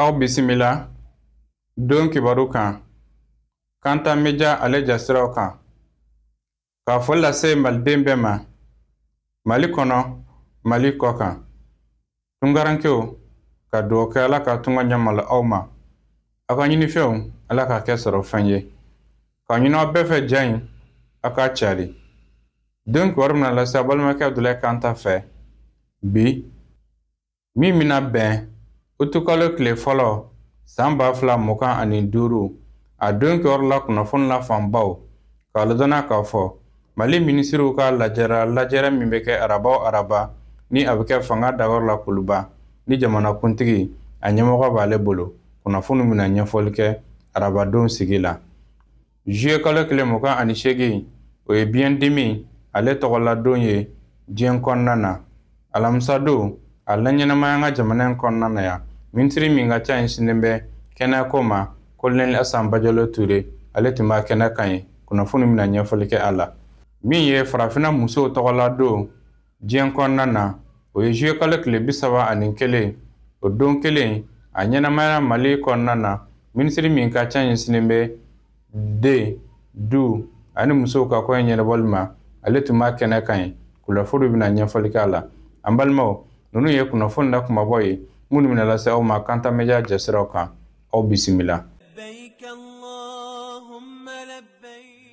aw bisimila don kibaru kan kanta media ale jasiraw kan ka foli lase maliden bɛɛ ma mali kɔnɔ mali kɔ kan tungarankew ka dugawu kɛ ala ka tunga ɲɛmalo aw ma aw ka ɲinifɛnw ala k'a kɛ sɔrɔ fɛn ye k'a ɲini aw bɛɛ fɛ ja in aw k'a cari don kibaru bɛna lase aw balimakɛ abdulayi kanta fɛ bi min bɛna bɛn utukalo tile fɔlɔ san ba fila mugan ani duuru a don kibaru la kunnafoni la fanbaw k'a ladɔnniya k'a fɔ mali minisiriw ka lajɛrɛ lajɛrɛ min bɛ kɛ araba o araba ni a bɛ kɛ fanga dagayɔrɔ la kuluba ni jamanakuntigi a ɲɛmɔgɔ b'ale bolo kunnafoni bɛna ɲɛfɔli kɛ arabadon sigi la Juillet kalo tile mugan ani seegin o ye biyɛndimi ale tɔgɔladon ye diɲɛ kɔnɔna na alamisadon a laɲɛnamaya an ka jamana in kɔnɔna na yan minisiri min ka ca ɲɛsinnen bɛ kɛnɛyako ma kolonɛli asan bajalo ture ale tun b'a kɛnɛ kan yen kunnafoni bɛna ɲɛfɔli kɛ a la min ye farafinna musow tɔgɔladon diɲɛ kɔnɔna na o ye juye kalo tile bi saba ani kelen o don kelen a ɲɛnamayara mali kɔnɔna na minisiri min ka ca ɲɛsinnen bɛ den du ani musow ka koɲɛ ɲɛnabɔli ma ale tun b'a kɛnɛ kan yen kunnafoni bɛna ɲɛfɔli k'a la an balimaw ninnu ye kunnafoni na kumabɔ ye minnu bɛna lase aw ma kanta media jasiraw kan aw bisimila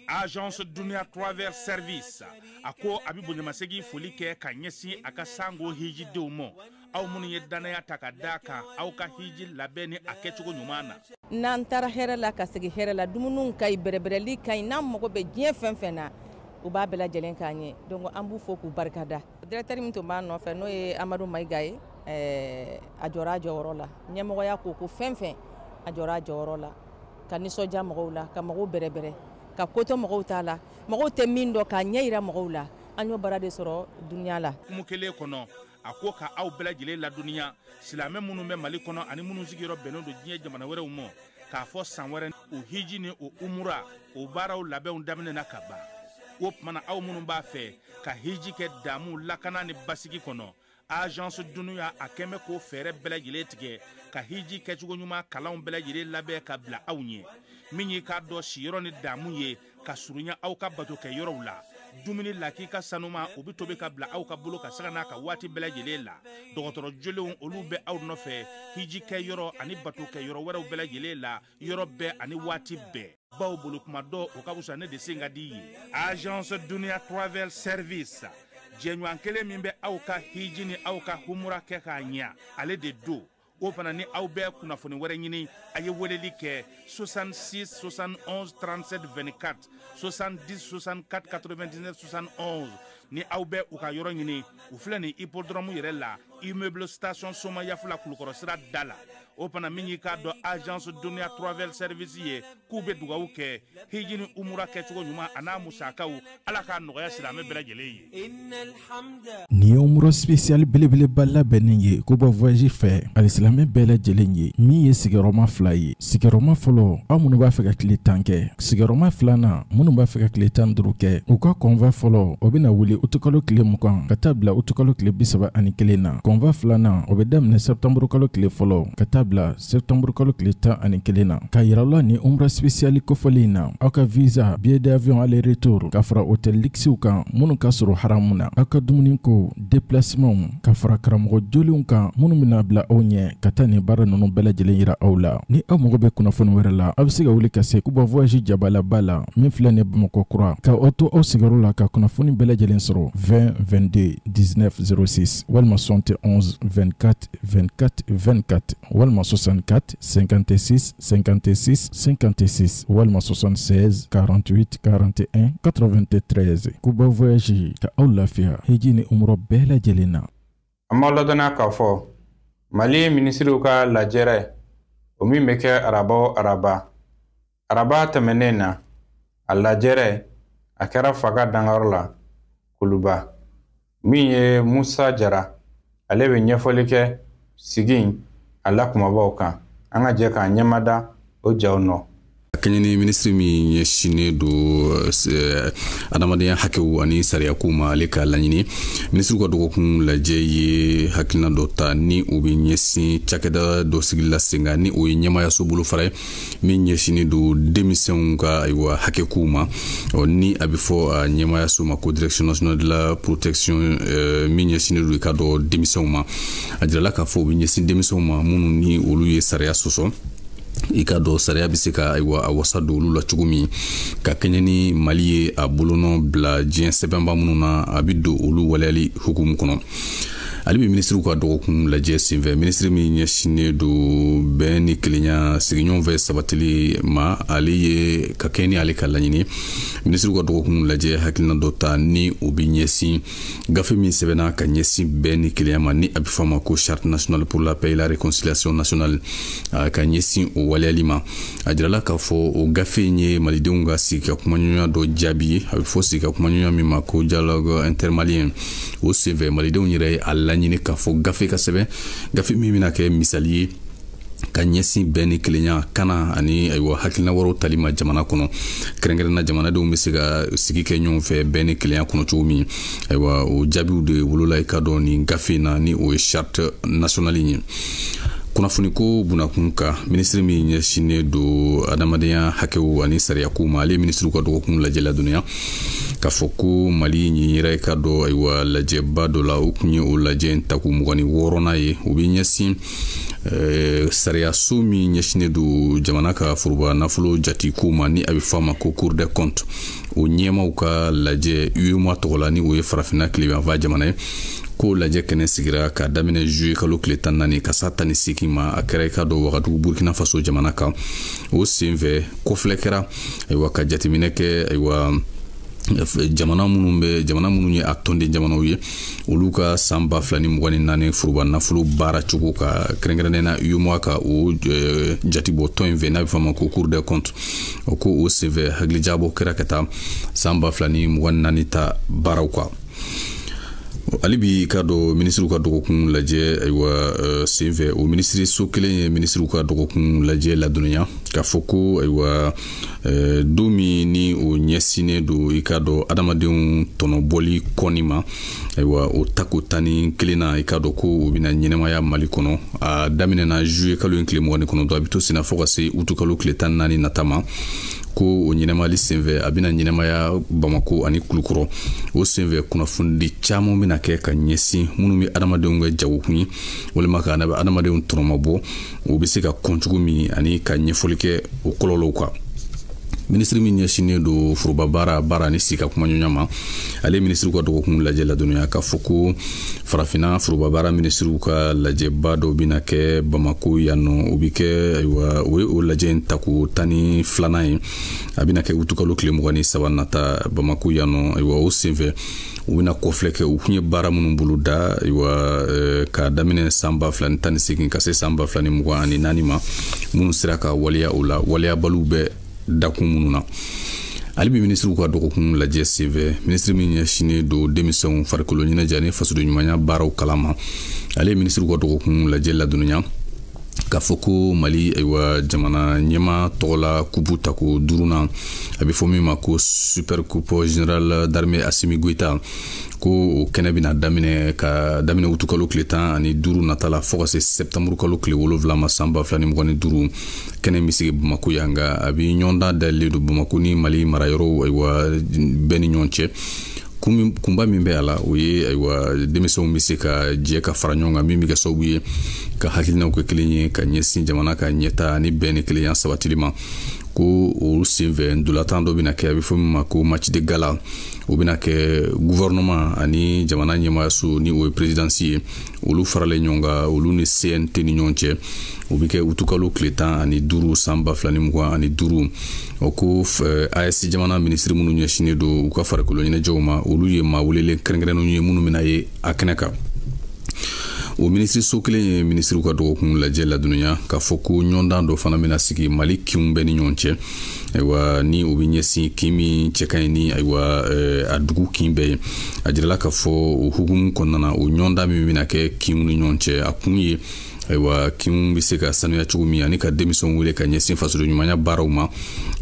agence dunia travel service a ko a bɛ bonyamasegin foli kɛ ka ɲɛsin a ka sango hijidenw ma aw minnu ye dannaya ta ka da a kan aw ka hiji labɛn ni a kɛcogo ɲuman na n'an taara hɛrɛ la ka segin hɛrɛ la dumuniw ka ɲi bɛrɛbɛrɛli ka ɲi n'an mago bɛ diɲɛ fɛn fɛn na u b'a bɛɛ lajɛlen k'an ye donc an b'u fo k'u barikada Directeur min tun b'a nɔfɛ n'o ye amadu mayiga ye a jɔra a jɔyɔrɔ la ɲɛmɔgɔya ko o ko fɛn fɛn a jɔra a jɔyɔrɔ la ka nisɔndiya mɔgɔw la ka mɔgɔw bɛrɛbɛrɛ ka ko to mɔgɔw ta la mɔgɔw tɛ min dɔn k'a ɲɛjira mɔgɔw la an y'o baara de sɔrɔ dunya la kuma kelen kɔnɔ a ko ka aw bɛɛ lajɛlen ladɔnniya silamɛ minnu bɛ mali kɔnɔ ani minnu sigiyɔrɔ bɛnnen don diɲɛ jamana wɛrɛw ma k'a fɔ san wɛrɛ o hiji ni o umura o baaraw labɛnw daminɛna ka ban o tuma na aw minnu b'a fɛ ka hiji kɛ damu lakana ni basigi kɔnɔ agence dunia a kɛmɛ k'o fɛɛrɛ bɛɛ lajɛlen tigɛ ka hiji kɛcogo ɲuman kalanw bɛɛ lajɛlen labɛn ka bila aw ɲɛ min ye k'a dɔn siyɔrɔ ni damu ye ka surunya aw ka bato kɛ yɔrɔw la dumuni lakika sanuman o bɛ tobi ka bila aw ka bolo kan sanga n'a ka waati bɛɛ lajɛlen la dɔgɔtɔrɔ jolenw olu bɛ aw nɔfɛ hiji kɛ yɔrɔ ani bato kɛ yɔrɔ wɛrɛw bɛɛ lajɛlen la yɔrɔ bɛɛ ani waati bɛɛ baw bolo kuma dɔ o ka wusa ne de sen ka di ye agence dunia travel service jɛɲɔgɔn kelen min bɛ aw ka hiji ni aw ka humura kɛ k'a ɲɛ ale de don o fana ni aw bɛ kunnafoni wɛrɛ ɲini a ye weleli kɛ 66 71 37 24 70 64 99 71 ni aw bɛ u ka yɔrɔ ɲini u filɛ nin hippodrome yɛrɛ la immeuble station somayaf la kulukɔrɔ sira da la o fana min y'i k'a dɔn agence duniya travel service ye k'u bɛ dugawu kɛ hiji ni umura kɛcogo ɲuman a n'a musakaw ala k'a nɔgɔya silamɛ bɛɛ lajɛlen ye nin ye umura spécial belebeleba labɛnnin ye kuba voyage fɛ alisilamɛ bɛɛ lajɛlen ye min ye sigiyɔrɔma fila ye sigiyɔrɔma fɔlɔ aw minnu b'a fɛ ka tile tan kɛ sigiyɔrɔma filanan minnu b'a fɛ ka tile tan duuru kɛ u ka convoi fɔlɔ o bɛna wuli utukalo tile mugan ka taa bila utukalo tile bisaba ani kelen na convoi filanan o bɛ daminɛ sɛtanburukalo tile fɔlɔ ka taa bila sɛtanburukalo tile tan ani kelen na k'a yira aw la nin umra spécial kofɔlen in na aw ka visa billet d'avion aller retour ka fara hôtel luxe kan minnu ka surun haramu na aw ka dumuni ko déplacement ka fara karamɔgɔ jolenw kan minnu bɛna bila aw ɲɛ ka taa nin baara ninnu bɛɛ lajɛlen yira aw la ni aw mago bɛ kunnafoni wɛrɛ la aw bɛ se ka wuli ka se kuba voyage jabalaba la min filɛ nin bamakɔ kura ka aw to aw sigiyɔrɔ la ka kunnafoni bɛɛ lajɛlen sɔrɔ 20 22 19 06 walima 71 24 24 24 walima 64 56 56 56 walima 76 48 41 93 kuba voyage ka aw lafiya hiji ni umra bɛɛ lajɛlen na an b'a ladɔnniya k'a fɔ mali minisiriw ka lajɛrɛ o min bɛ kɛ araba o araba araba tɛmɛnnen na a lajɛrɛ a kɛra fanga dagayɔrɔ la kuluba min ye musa jara ale bɛ ɲɛfɔli kɛ sigi in a la kumabaw kan an ka jɛ k'an ɲɛmada o jaw nɔ ka kɛɲɛ ni minisiri min ɲɛsinnen don eh, adamadenya hakɛw ani sariyakow ma ale ka laɲini minisiriw ka dɔgɔkun lajɛ ye hakilina dɔ ta ni o bɛ ɲɛsin cakɛda dɔ sigili la sen kan ni o ye ɲɛmaayaso bolofara ye min ɲɛsinnen don denmisɛnw ka ayiwa hakɛkow ma ɔ ni a bɛ fɔ a ɲɛmaayaso ma ko direction nationale de la protection euh, min ɲɛsinnen don i k'a dɔn denmisɛnw ma a jirala k'a fɔ o bɛ ɲɛsin denmisɛnw ma minnu ni olu ye sariya sɔsɔ i k'a dɔn sariya bɛ se ka ayiwa a wasa don olu la cogo min ka kɛɲɛ ni mali ye a bolonɔ bila diɲɛ sɛbɛnba minnu na a bɛ don olu waleyali hukumu kɔnɔ hali bi minisiriw ka dɔgɔkun lajɛ senfɛ minisiri min ɲɛsinnen don bɛn ni kelenya sigiɲɔgɔn fɛ sabatili ma ale ye ka kɛɲɛ ni ale ka laɲini minisiriw ka dɔgɔkun lajɛ hakilina dɔ ta ni o bɛ ɲɛsin gafe min sɛbɛnna ka ɲɛsin bɛn ni kelenya ma ni a bɛ fɔ a ma ko charte nationale pour la paix et la réconciliation nationale ka ɲɛsin o waleyali ma a jirala k'a fɔ o gafe in ye malidenw ka sigi ka kumaɲɔgɔnya dɔ jaabi ye a bɛ fɔ sigi ka kumaɲɔgɔnya min ma ko dialogue intermalien o senfɛ malidenw yɛrɛ ye a laɲini k'a fɔ gafe ka sɛbɛn gafe min bɛna kɛ misali ye ka ɲɛsin bɛn ni kelenya kana ani ayiwa hakilina wɛrɛw tali ma jamana kɔnɔ kɛrɛnkɛrɛnna jamanadenw bɛ se ka sigi kɛ ɲɔgɔn fɛ bɛn ni kelenya kɔnɔ cogo min ayiwa o jaabiw de wolola i k'a dɔn nin gafe in na ni o ye charte nationale ye kunnafoniko bunakun kan minisiri min ɲɛsinnen don adamadenya hakɛw ani sariyakow ma ale ye minisiriw ka dɔgɔkun lajɛ ladɔnniya k'a fɔ ko mali nin yera i k'a dɔn ayiwa lajɛba dɔ la o tun ye o lajɛ in tako mugan ni wɔɔrɔnan ye o bɛ ɲɛsin eh, sariyaso min ɲɛsinnen don jamana ka foroba nafolo jatiko ma ni a bɛ fɔ a ma ko cour des comptes o ɲɛmaw ka lajɛ UEMOA tɔgɔ la ni o ye farafinna tilebinyanfan jamana ye k'o lajɛ kɛnɛ sigira ka daminɛ juye kalo tile tan ni naani ka s'a tan ni seegin ma a kɛra i k'a dɔn wagadugu burkina faso jamana kan o senfɛ kɔfilɛ kɛra ayiwa ka jateminɛ kɛ ayiwa jamana minnu bɛ jamana minnu ye a tɔnden jamanaw ye olu ka san ba fila ni mugan ni naani foroba nafolo baara cogo kan kɛrɛnkɛrɛnnen na UEMOA ka o eh, jatibɔ tɔn in fɛ n'a bɛ fɔ a ma ko cour des comptes o ko o senfɛ hakilijagabɔ kɛra ka taa san ba fila ni mugan ni naani ta baaraw kan hali bi k'a dɔn minisiriw ka dɔgɔkun lajɛ ayiwa eh, senfɛ o minisiriso kelen ye minisiriw ka dɔgɔkun lajɛ ladɔnniya k'a fɔ ko ayiwa eh, don min ni o ɲɛsinnen don i k'a dɔn adamadenw tɔnɔbɔli kɔnni ma ayiwa o tako tan ni kelennan i k'a dɔn ko o bɛna ɲɛnamaya mali kɔnɔ a daminɛna juye kalo in tile mugan ni kɔnɔntɔn a bɛ to senna fo ka se utukalo tile tan ni naani nata ma ko o ɲɛnamayali senfɛ a bɛna ɲɛnamaya bamako ani kulukɔrɔ o senfɛ kunnafonidi caman bɛna kɛ ka ɲɛsin minnu bɛ adamadenw kɛ jagokun ye walima ka adamadenw tɔnɔmabɔ o bɛ se ka kɔn cogo min ani ka ɲɛfɔli kɛ o kɔlɔlɔw kan minisiri min ɲɛsinnen don foroba baara baara ni sigi ka kumaɲɔgɔnya ma ale minisiriw ka dɔgɔkun lajɛ ladɔnniya k'a fɔ ko farafinna foroba baara minisiriw ka lajɛba dɔ bɛna kɛ bamako yan nɔ o bɛ kɛ ayiwa o ye o lajɛ in tako tan ni filanan ye a bɛna kɛ utukalo tile mugan ni saba nata bamako yan nɔ ayiwa o senfɛ u bɛna kɔfilɛ kɛ u kun ye baara minnu bolo da ayiwa eh, ka daminɛ san ba fila ni tan ni segin ka se san ba fila ni mugan ani naani ma minnu sera ka waleya o la waleyabaliw bɛ dakun minnu na hali bi minisiriw ka dɔgɔkun lajɛ senfɛ minisiri min ɲɛsinnen don denmisɛnw farikolo ɲɛnajɛ ni fasodenɲumanya baaraw kalan ma ale ye minisiriw ka dɔgɔkun lajɛ ladɔnniya k'a fɔ ko mali ayiwa jamana ɲɛmaa tɔgɔla kupu tako duurunan a bɛ fɔ min ma ko super coupe général d'armée assimi goïta ko o kɛnɛ bɛna daminɛ ka daminɛ wutukalo tile tan ani duuru nata la fɔɔ ka se sɛptanburu kalo tile wolonfila ma san ba fila ni mugan ni duuru kɛnɛ bɛ sigi bamako yan nka a bɛ ɲɔgɔndan dayɛlɛlen don bamako ni mali marayɔrɔw ayiwa bɛɛ ni ɲɔgɔn cɛ kunba min bɛ a la o ye ayiwa denmisɛnw bɛ se ka jɛ ka fara ɲɔgɔn kan min bɛ kɛ sababu ye ka hakilinaw kɛ kelen ye ka ɲɛsin jamana ka ɲɛtaa ni bɛn ni kelenya sabatili ma ko o senfɛ ntolatan dɔ bɛna kɛ a bɛ fɔ min ma ko match de gala o bɛna kɛ guvɛrɛnɛman ani jamana ɲɛmaayaso ni o ye perezidansi ye olu faralen ɲɔgɔn kan olu ni cnt ni ɲɔgɔn cɛ o bɛ kɛ utukalo tile tan ani duuru san ba fila ni mugan ani duuru o ko aes jamana minisiri minnu ɲɛsinnen don u ka farikolo ɲɛnajɛw ma olu ye maa welelen kɛrɛnkɛrɛnnenw ye minnu bɛna ye a kɛnɛ kan o minisiriso kelen ye minisiriw ka dɔgɔkun lajɛ ladɔnniya k'a fɔ ko ɲɔgɔndan dɔ fana bɛna sigi mali kinw bɛɛ ni ɲɔgɔn cɛ ayiwa ni o bɛ ɲɛsin kin min cɛ ka ɲi ni ayiwa eh, a dugu kin bɛɛ ye a jirala k'a fɔ o hukumu kɔnɔna na o ɲɔgɔndan min bɛna kɛ kinw ni ɲɔgɔn cɛ a kun ye ayiwa kinw bɛ se ka sanuya cogo min ani ka denmisɛnw wele ka ɲɛsin fasoden ɲumanya baaraw ma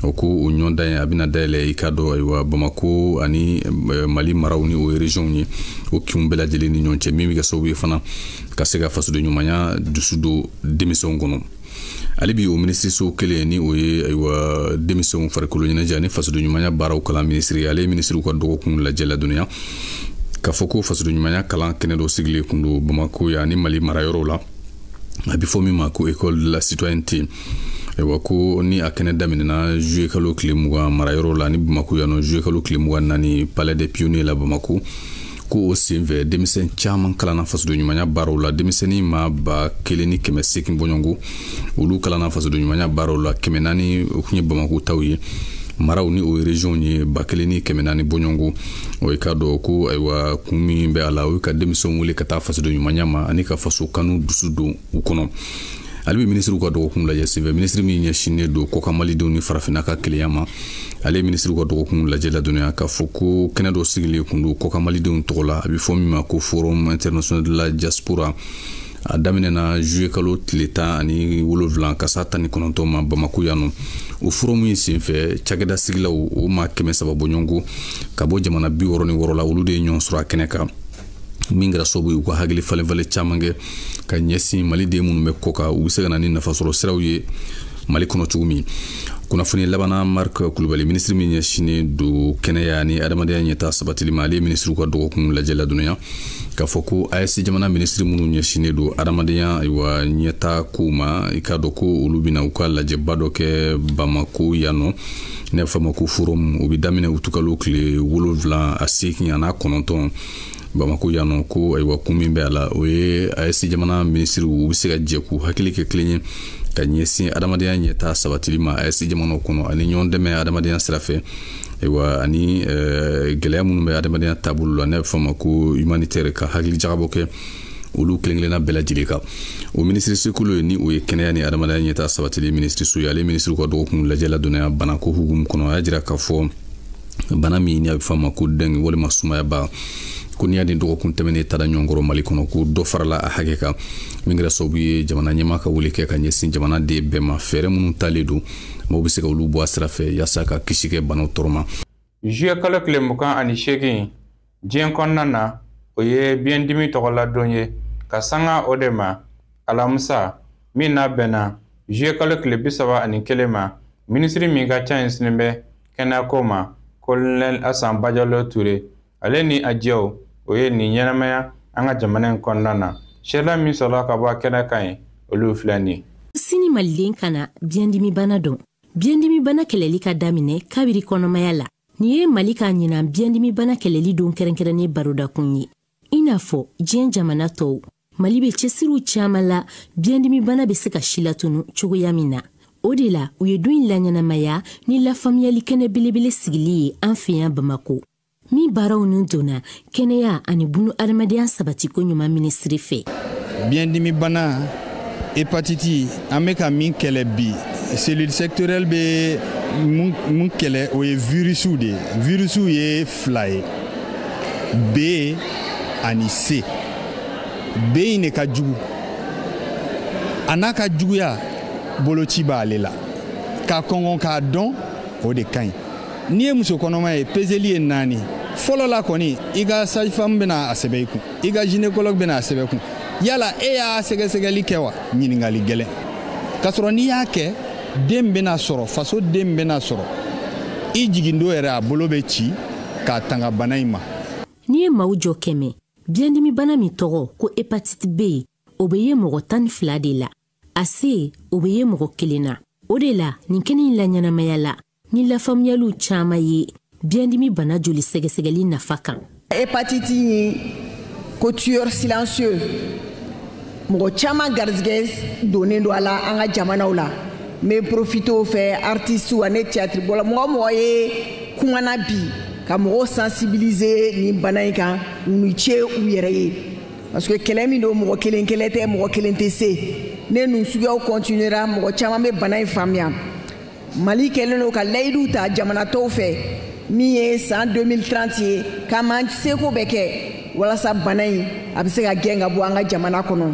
o ko o ɲɔgɔndan ye a bɛna dayɛlɛ i k'a dɔn ayiwa bamako ani eh, mali maraw ni o ye reziyɔnw ye o kinw bɛɛ lajɛlen ni ɲɔgɔn cɛ min bɛ kɛ sababu ye fana ka se ka fasoden ɲumanya dusu don denmisɛnw kɔnɔ hali bi o minisiriso kelen ni o ye ayiwa denmisɛnw farikolo ɲɛnajɛ ani fasodenɲumanya baaraw kalan minisiri ale ye minisiriw ka dɔgɔkun lajɛ ladɔnniya k'a fɔ ko fasodenɲumanya kalan kɛnɛ dɔ sigilen kun don bamako yan ni mali mara yɔrɔw la a bɛ fɔ min ma ko école de la citoyenneté ayiwa ko ni a kɛnɛ daminɛna juye kalo tile mugan mara yɔrɔ la ni bamako yan nɔ juye kalo tile mugan naani palais des pionniers la bamako ko o senfɛ denmisɛn caman kalanna fasodenɲumanya baaraw la denmisɛnnin maa ba kelen ni kɛmɛ seegin bɔɲɔgɔnko olu kalanna fasodenɲumanya baaraw la kɛmɛ naani o kun ye bamako taw ye maraw ni o ye regionw ye ba kelen ni kɛmɛ naani bɔɲɔgɔnko o ye k'a dɔn ko ayiwa kun min bɛ a la o ye ka denmisɛnw wele ka taa fasodenɲumanya ma ani ka faso kanu dusu don u kɔnɔ hali bi minisiriw ka dɔgɔkun lajɛ senfɛ minisiri min ɲɛsinnen don kɔkan malidenw ni farafinna ka kelenya ma ale ye minisiriw ka dɔgɔkun lajɛ ladɔnniya k'a fɔ ko kɛnɛ dɔ sigilen kun don kɔkan malidenw tɔgɔ la a bɛ fɔ min ma ko forum international de la diaspora a daminɛna zuye kalo tile tan ani wolonfila ka s'a tan ni kɔnɔntɔn ma bamako yan nɔ o foromu in senfɛ cakɛda sigilaw o maa kɛmɛ saba bɔɲɔgɔnko ka bɔ jamana bi wɔrɔ ni wɔrɔ la olu de ye ɲɔgɔn sɔrɔ a kɛnɛ kan min kɛra sababu ye u ka hakili falenfalen caman kɛ ka ɲɛsin maliden minnu bɛ kɔ kan u bɛ se ka na ni nafasɔrɔ siraw ye mali kɔnɔ cogo min kunnafoni labanna mark kulubali minisiri min ɲɛsinnen don kɛnɛya ni adamadenya ɲɛtaa sabatili ma ale ye minisiriw ka dɔgɔkun lajɛ ladɔnniya k'a fɔ ko ayɛsi jamana minisiri minnu ɲɛsinnen don adamadenya ayiwa ɲɛtaa kow ma i k'a dɔn ko olu bɛna u ka lajɛba dɔ kɛ bamako yan nɔ n'a bɛ fɔ a ma ko forum o bɛ daminɛ utukalo tile wolonfila a seegin a n'a kɔnɔntɔn bamako yan nɔ ko ayiwa kun min bɛ a la o ye ayɛsi jamana minisiriw u bɛ se ka jɛ k'u hakili kɛ kelen ye ka ɲɛsin adamadenya ɲɛtaa sabatili ma ayɛsi jamanaw kɔnɔ ani ɲɔgɔn dɛmɛ adamadenya sira fɛ ayiwa ani eh, gɛlɛya minnu bɛ adamadenya taabolo la n'a bɛ fɔ a ma ko humanitaire ka hakili jagabɔ kɛ olu kelenkelenna bɛɛ lajɛlen kan o minisiriso kelen ye ni o ye kɛnɛya ni adamadenya ɲɛtaa sabatili minisiriso ye ale minisiriw ka dɔgɔkun lajɛ ladɔnniya banako hukumu kɔnɔ a y'a jira k'a fɔ bana min ni a bɛ fɔ a ma ko dɛngi walima sumayaba ko n'i y'a ni dɔgɔkun tɛmɛnen ta da ɲɔgɔn kɔrɔ mali kɔnɔ ko dɔ farala a hakɛ kan min kɛra sababu ye jamana ɲɛmaa ka wele kɛ ka ɲɛsin jamanaden bɛɛ ma fɛɛrɛ minnu talen don maaw bɛ se ka olu bɔ a sira fɛ yaasa ka kisi kɛ banaw tɔɔrɔ ma Zuye kalo tile mugan ani seegin diɲɛ kɔnɔna na o ye biyɛndimi tɔgɔladon ye ka sanga o de ma alamisa min n'a bɛnna zuye kalo tile bi saba ani kelen ma minisiri min ka ca ɲɛsinnen bɛ kɛnɛyako ma kolonɛli asan bajalo ture ale ni a jɛw o ye nin ɲɛnamaya an ka jamana in kɔnɔna na sɛla min sɔrɔla ka bɔ kɛnɛ kan yen olu filɛ nin sini maliden kana biyɛndimibana dɔn biyɛndimibana kɛlɛli ka daminɛ kabiri kɔnɔmaya la nin ye mali ka ɲinan biyɛndimibana kɛlɛli don kɛrɛnkɛrɛnnen barodakun ye i n'a fɔ diɲɛ jamana tɔw mali bɛ cɛsiriw caaman la biyɛndimibana bɛ se ka silatunu cogoya min na o de la u ye don in laɲɛnamaya ni lafaamuyali kɛnɛ belebele sigili ye an fɛ yan bamako min baaraw nun donna kɛnɛya ani bunu adamadenya sabatiko ɲuman minisiri fɛ biyɛndimibana hepatiti an bɛ ka min kɛlɛ bi cellule sectorielle bɛ min kɛlɛ o ye virisiw de ye virisiw ye fila ye b ani c b in de ka jugu a n'a ka juguya boloci b'ale la ka kɔngɔn k'a dɔn o de ka ɲi n'i ye muso kɔnɔma ye peseli ye naani fɔlɔ la kɔni i ka sage-femme bɛna a sɛbɛn i kun i ka gynécologue bɛna a sɛbɛn kun yala e y'a sɛgɛsɛgɛli kɛ wa ɲiningali gɛlɛn k'a sɔrɔ n'i y'a kɛ den bɛna sɔrɔ faso den bɛna sɔrɔ i jigin don yɛrɛ a bolo bɛ ci k'a tanga bana in ma n'i ye maaw jɔ kɛmɛ biyɛndimibana min tɔgɔ ko hépatite b o bɛ ye mɔgɔ tan ni fila de la a c o bɛ ye mɔgɔ kelen na o de la nin kɛnɛ in laɲɛnamaya la ni lafaamuyaliw caman ye biyɛndimi bana joli sɛgɛsɛgɛli nafa kan hépatite ye ko tueur silencieux mɔgɔ caman garijɛgɛ donnen don a la an ka jamanaw la n bɛ profiter o fɛ artisiw ani tiyatiribɔla mɔgɔ o mɔgɔ ye kumana bi ka mɔgɔw sensibiliser nin bana in kan u ni ce u yɛrɛ ye parce que kɛlɛ min don mɔgɔ kelen kɛlɛ tɛ mɔgɔ kelen tɛ se ni ninnu suguyaw continuera mɔgɔ caman bɛ bana in faamuya mali kɛlen don ka layidu ta jamana tɔw fɛ min ye san 2030 ye k'an b'an seko bɛɛ kɛ walasa bana in a bɛ se ka gɛn ka bɔ an ka jamana kɔnɔ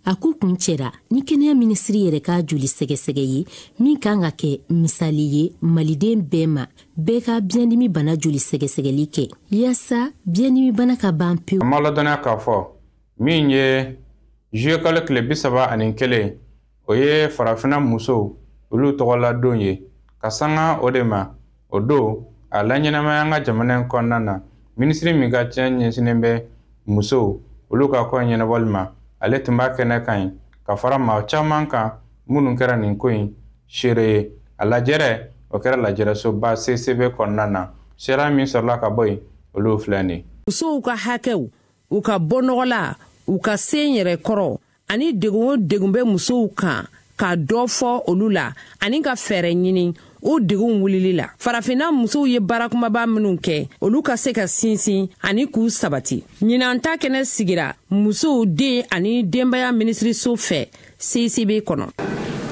a ko kuncɛra ni kɛnɛya minisiri yɛrɛ ka joli sɛgɛsɛgɛ ye min kan ka kɛ misali ye maliden bɛɛ ma bɛɛ ka biyɛndimi bana joli sɛgɛsɛgɛli kɛ yaasa biyɛndimi bana ka ban pewu an b'a ladɔnniya k'a fɔ min ye juillet kalo tile bi saba ani kelen o ye farafina musow olu tɔgɔladon ye ka sanga o de ma o don a laɲɛnamaya an ka jamana in kɔnɔna na minisiri min ka ci ɲɛsinnen bɛ musow olu ka ko ɲɛnabɔli ma ale tun b'a kɛnɛ kan yen ka fara maa caman kan minnu kɛra nin ko in seere ye a lajɛrɛ o kɛra lajɛrɛsoba ccb kɔnɔna na seereya min sɔrɔla ka bɔ yen olu filɛ nin ye musow ka hakɛw u ka bɔnɔgɔla u ka senyɛrɛkɔrɔ ani degun o degun bɛ musow kan ka dɔ fɔ olu la ani ka fɛɛrɛ ɲini o degun wulili la farafinna musow ye baara kumaba minnu kɛ olu ka se ka sinsin ani k'u sabati ɲinan ta kɛnɛ sigira musow den ani denbaya minisiriso fɛ ccb kɔnɔ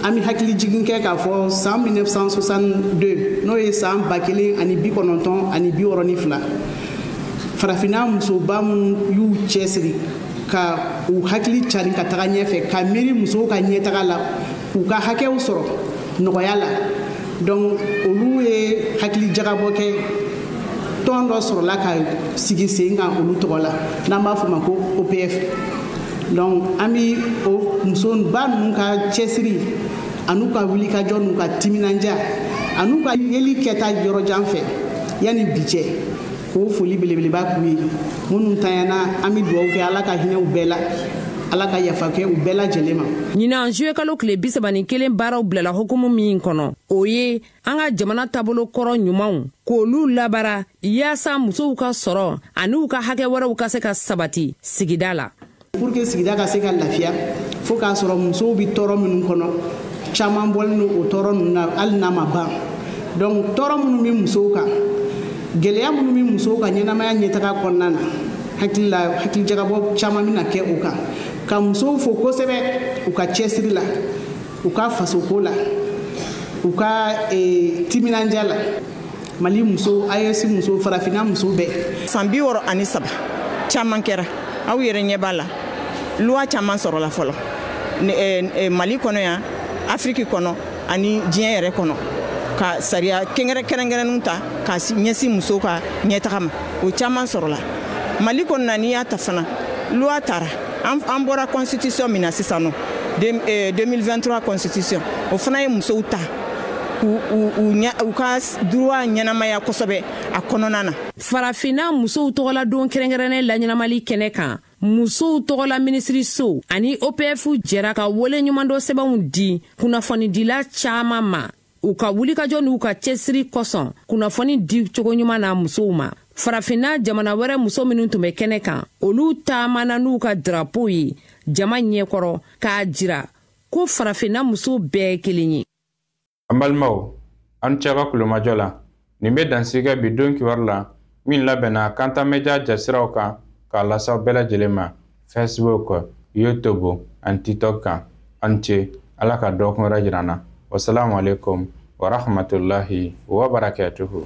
an bɛ hakili jigin kɛ k'a fɔ san 1962 n'o ye san ba kelen ani bi kɔnɔntɔn ani bi wɔɔrɔ ni fila farafinna musoba minnu y'u cɛsiri ka u hakili cari ka taga ɲɛfɛ ka miiri musow ka ɲɛtaga la k'u ka hakɛw sɔrɔ nɔgɔya la donc olu ye hakili jagabɔ kɛ tɔn dɔ sɔrɔla ka sigi sen kan olu tɔgɔ la n'an b'a fɔ ma ko opf donc an bi o musoba ninnu ka cɛsiri an'u ka wulikajɔ n'u ka timinanja an'u ka yeli kɛta yɔrɔjan fɛ yanni bi cɛ k'o foli belebeleba k'u ye minnu tanyana an bɛ dugawu kɛ ala ka hinɛ u bɛɛ la ala ka yafa kɛ u bɛɛ lajɛlen ma ɲinan zuwe kalo tile bisaba ni kelen baaraw bilala hukumu min kɔnɔ o ye an ka jamana taabolo kɔrɔ ɲumanw k'olu labaara yaasa musow ka sɔrɔ ani u ka hakɛ wɛrɛw ka se ka sabati sigida la pour que sigida ka se ka lafiya fo k'a sɔrɔ musow bɛ tɔɔrɔ minnu kɔnɔ caman bɔlen don o tɔɔrɔ ninnu na hali n'a ma ban donc tɔɔrɔ minnu bɛ musow kan gɛlɛya minnu bɛ musow ka ɲɛnamaya ɲɛtaga kɔnɔna na hakili la hakilijagabɔ caman bɛna kɛ o kan ka musow fo kosɛbɛ u ka cɛsiri la u ka fasoko la u ka eh, timinandiya la mali muso aes muso farafina muso bɛɛ san biwɔɔrɔ ani saba caman kɛra aw yɛrɛ ɲɛ b'a la loi caman sɔrɔla fɔlɔ eh, eh, mali kɔnɔ yan afiriki kɔnɔ ani diɲɛ yɛrɛ kɔnɔ ka sariya kɛngɛrɛ kɛrɛnkɛrɛnnenw ta ka ɲɛsin muso ka ɲɛtaga ma o caman sɔrɔla mali kɔnɔ na n'i y'a ta fana loi tara an bɔra constitution min na sisan nɔ 2023 eh, constitution o fana ye musow ta u ka droit ɲɛnamaya kosɛbɛ a kɔnɔna na farafinna musow tɔgɔla don kɛrɛnkɛrɛnnen laɲɛnamali kɛnɛ kan musow tɔgɔla minisiriso ani opf jɛra ka waleɲumandɔn sɛbɛnw di kunnafonidila caaman ma u ka wulikajɔ n'u ka cɛsiri kosɔn kunnafoni di cogo ɲuman na musow ma farafinna jamana wɛrɛ muso minnu tun bɛ kɛnɛ kan olu taamana n'u ka darapow ye jama ɲɛkɔrɔ k'a jira ko farafinna muso bɛɛ ye kelen ye an balimaw aw ni ce aw ka tulomajɔ la nin bɛ dan sigi bi don kibaru la min labɛnna kanta media jasiraw kan k'a lase aw bɛɛ lajɛlen ma facebook youtube ani tiktok kan aw ni ce ala ka dɔɔkun wɛrɛ jira an na wasalamu alaikum warahmatullahi wabarakatuhu